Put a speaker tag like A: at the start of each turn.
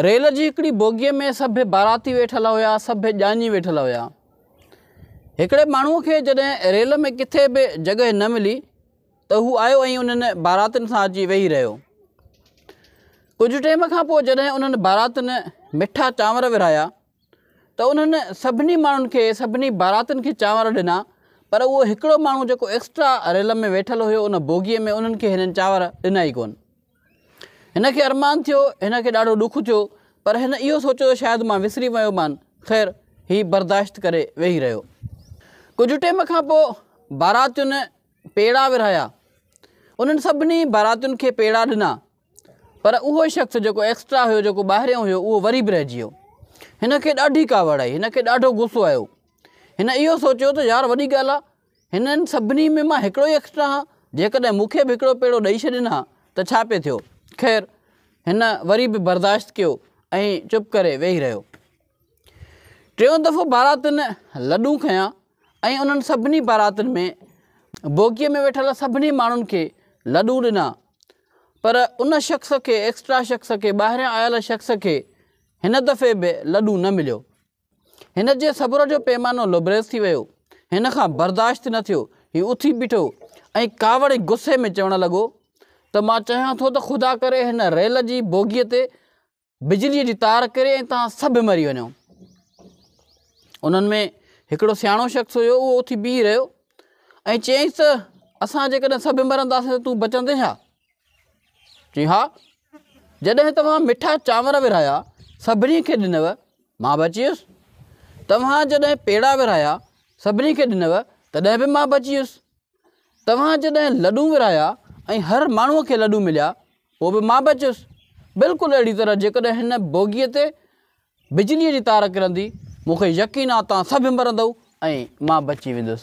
A: Rail جي هڪڙي بوگيء ۾ سڀ باراتي ويٺل هيا، سڀ ڄاڃي ويٺل هيا. هڪڙي ماڻهوء کي جڏهن ريل ۾ ڪٿي به جڳهه نه ملي ته هو آيو ۽ انهن باراتين سان اچي ويهي رهيو. ڪجهه ٽيم کان پوء جڏهن انهن باراتين مٺا چانور ورهايا ته انهن سڀني ماڻهن کي، سڀني باراتين کي چانور ڏنا پر اهو هڪڙو ماڻهو جيڪو ايڪسٽرا ريل ۾ ويٺل هيو ان بوگيء ۾ انهن کي هنن چانور ڏنا ئي ڪونه. هن کي ارمان ٿيو، هن کي ڏاڍو ڏک ٿيو، پر هن اهو سوچيو ته شايد مان وسري ويو مان. خير، هي برداشت ڪري ويهي رهيو. ڪجهه ٽيم کان پوء باراتين پيڙا ورهايا. انهن سڀني باراتين کي پيڙا ڏنا، پر اهو شخص جيڪو ايڪسٽرا هيو، جيڪو ٻاهريون هيو، اهو وري به رهجي ويو. هن کي ڏاڍي ڪاوڙ آئي، هن کي ڏاڍو غصو آيو. هن اهو سوچيو ته يار وڏي ڳالهه آ، هنن سڀني ۾ مان هڪڙو ئي ايڪسٽرا هان، جيڪڏهن مون کي به هڪڙو پيڙو ڏئي ڇڏين ها ته ڇا پئي ٿيو؟ خير، هن وري به برداشت ڪيو ۽ چپ ڪري ويهي رهيو. ٽيون دفعو باراتن لڏون کنيا ۽ انهن سڀني باراتن ۾ بوگيء ۾ ويٺل سڀني ماڻهن کي لڏون ڏنا، پر ان شخص کي، ايڪسٽرا شخص کي، ٻاهريان آيل شخص کي هن دفعي به لڏون نه مليو. هن جي صبر جو پيمانو لبريز ٿي ويو. هن کان برداشت نه ٿيو. هي اٿي بيٺو ۽ ڪاوڙي غصي ۾ چوڻ لڳو ته مان چاهيان ٿو ته خدا ڪري هن ريل جي بوگيء تي بجليء جي تار ڪري ۽ توهان سڀ مري وڃو. انهن ۾ هڪڙو سياڻو شخص هيو، اهو اٿي بيهي رهيو ۽ چيائينس ته اسان جيڪڏهن سڀ مرنداسين ته تون بچندين ڇا؟ چيائين، ها! جڏهن توهان مٺا چانور ورهايا، سڀني کي ڏنو، مان به اچي ويس. توهان جڏهن پيڙا ورهايا، سڀني کي ڏنو، تڏهن به مان به اچي ويس. توهان جڏهن لڏون ورهايا ۽ هر ماڻهوء کي لڏون مليا، پوء به مان به اچي ويس. بلڪل اهڙي طرح جيڪڏهن هن بوگيء تي بجليء جي تار ڪرندي، مون کي يقين آ توهان سڀ مرندؤ ۽ مان بچي ويندس.